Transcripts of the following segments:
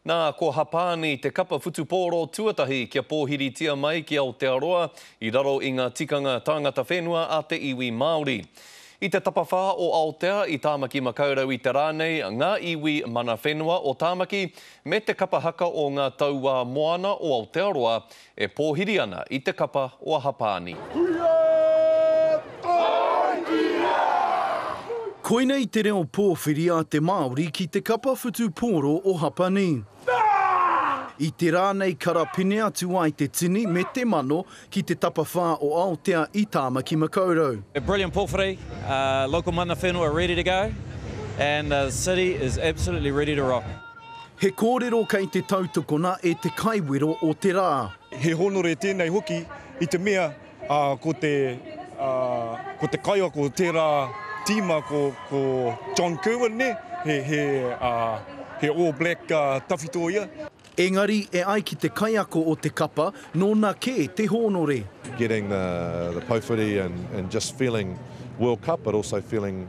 Nā, ko Hapāni te kapa whutupōro tuatahi kia pōhiritia mai ki Aotearoa i raro i ngā tikanga tāngata whenua a te iwi Māori. I te tapawhā o Aotea i Tāmaki Makaurau i te rā nei ngā iwi mana whenua o Tāmaki me te kapa haka o ngā tauā moana o Aotearoa E pōhiri ana i te kapa o Ahapāni. Kuia Taitia! Koinei te reo pōwhiri a te Māori ki te kapa whutupōro o Hapani. I te rā nei karapine atu ai te tini me te mano ki te tapawhā o Aotea i Tāmaki Makaurau. A brilliant pōwhiri, local mana whenua ready to go and the city is absolutely ready to rock. He kōrero kei te tautokona e te kaiwero o te rā. He hōnore tēnei hoki i te mea ko te ko te kaiako o tērā tīma ko ko John Kirwan nē, he he he All Black tawhito ia. Engari e ai ki te kaiako o te kapa nōna kē te hōnore. getting the the Pouwhiri and and just feeling World Cup but also feeling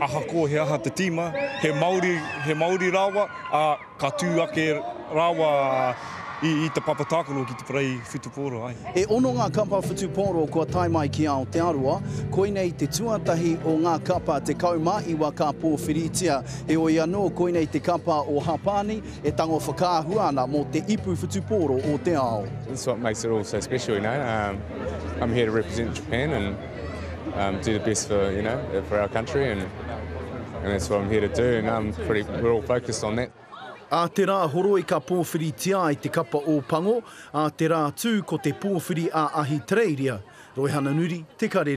Ahakoa he aha te tīma, he Māori, he Māori rāua, ā, ka tū ake rāua i te papa tākaro ki te parei whutupōro, āe. E ono ngā kapa whutupōro kua tae mai ki Aotearoa, koinei te tuatahi o ngā kapa 19 ka pōwhiritia. Heoi anō, koinei te kapa o Hapani e tango whakaahua ana mō te ipu whutupōro o te ao. Do the best for, you know, for our country and that's what I'm here to do and I'm pretty, we're all focused on that. Ā te rā horoi ka pōwhiritia ai te kapa Ōpango, ā te rā tū ko te pōwhiri a Ahitereiria, Roehananuri, Te Karere.